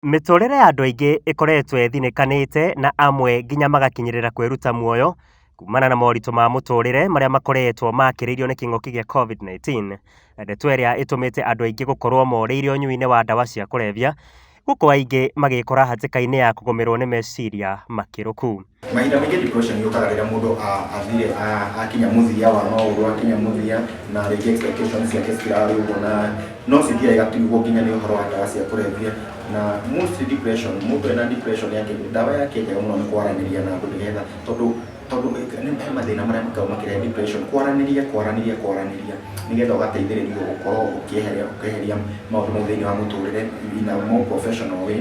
Mĩtũrĩre ya andũ aingĩ ĩkoretwo ĩthinĩkanĩte na amwe nginya magakinyĩrĩra kwĩruta muoyo kumana na moritũ ma mũtũrĩre marĩa makoretwo makĩrĩirio nĩ kĩng'ũki gĩa Covid-19. Ndeto ĩrĩa ĩtũmĩte andũ aingĩ gũkorwo morĩire ũnyui-inĩ wa ndawa cia kũrebia, gũkũ aingĩ magĩkora hatĩka-inĩ ya kũgũmĩrwo nĩ meciria makĩrũku. mahinda maingĩ depression yũkaga rĩrĩa mũndũ a- athire a- akinya mũthia wa maũndũ akinya mũthia na rĩngĩ expectations ciake citirarĩ ũguo na no cithiaga igatuigwo nginya nĩ ũhoro wa ndawa cia kũrebia na most depression mũndũ ena depression yake ndawa yake njega mũno nĩ kwaranĩria na andũ nĩgetha tondũ tondũ nĩ he mathĩna marĩa makoragwo makĩrehe depression kwaranĩria kwaranĩria kwaranĩria nĩgetha ũgateithĩrĩrio gũkorwo ũkĩeheria ũkeheria maũndũ mau thĩinĩ wa mũtũrĩre in a more professional way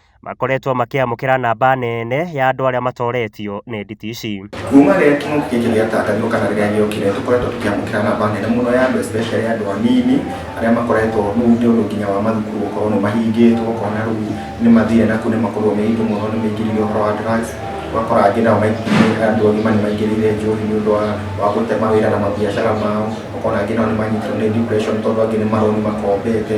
makoretwo makĩamũkĩra namba nene ya andũ arĩa matoretio nĩ nditi ici. Kuma rĩrĩa kĩng'ũki gĩkĩ gĩatangarirwo kana rĩrĩa gĩokire, tũkoretwo tũkĩamũkĩra namba nene mũno ya andũ especially andũ anini arĩa makoretwo rĩu nĩ ũndũ nginya wa mathukuru gũkorwo nĩ mahingĩtwo, ũkona rĩu nĩ mathire nakũu nĩ makorirwo me aingĩ mũno, nĩ maingĩrire ũhoro wa drugs, ũgakora angĩ nao andũ agima nĩ maingĩrire njohi nĩ ũndũ wa gũte mawĩra na mabiacara mao, ũkona angĩ nao nĩ manyitirwo nĩ depression tondũ angĩ nĩ marũni makombete.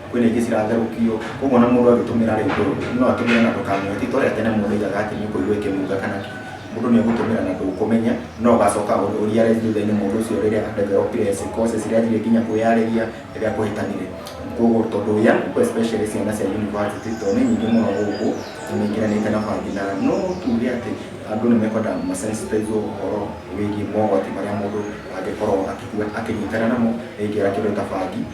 kwĩna ingĩ ciratherũkio ũguo na mũndũ agĩtũmĩra rĩ ndũrũ no atũmĩre na ndũkamenya ti ta ũrĩa tene mũndũ aigaga atĩ nĩ ũkũigua ĩkĩmunga kana kĩ mũndũ nĩ egũtũmĩra na ndũkũmenya no ũgacoka ũria rĩngĩ thutha-inĩ mũndũ ũcio rĩrĩa adevelopire psychosis iria njire nginya kwĩyarĩria rĩrĩa akũhĩtanire koguo tondũ ya kwa especially ciana cia university tondũ nĩ nyingĩ mũno gũkũ nĩ maingĩranĩte na bangi na no tuge atĩ andũ nĩ mekwendaga masensitizwo ũhoro wĩgiĩ mogwati marĩa mũndũ angĩkorwo akĩnyitana namo rĩngĩ oya kĩndũ ta bangi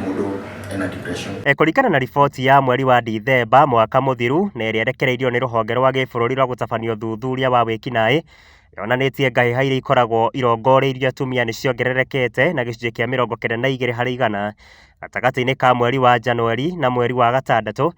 mũndũ ena depression. Kũringana na riboti ya mweri wa Dithemba mwaka mũthiru na ĩrĩa ĩrekereirio nĩ rũhonge rwa gĩbũrũri rwa gũtabania ũthuthuria wa wĩkinaĩ, yonanĩtie ngahĩha iria ikoragwo irongoreirio atumia nĩ ciongererekete na gĩcunjĩ kĩa mĩrongo kenda na igĩrĩ harĩ igana gatagatĩ-inĩ ka mweri wa Januari na mweri wa gatandatũ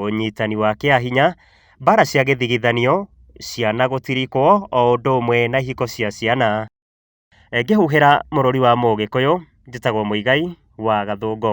ũnyitani wa kĩahinya, mbaara cia gĩthigithanio, ciana gũtirikwo o ũndũ ũmwe na ihiko cia ciana. E, ngĩhuhĩra mũrũri wa Mũgĩkũyũ, njĩtagwo Mũigai wa Gathũngũ.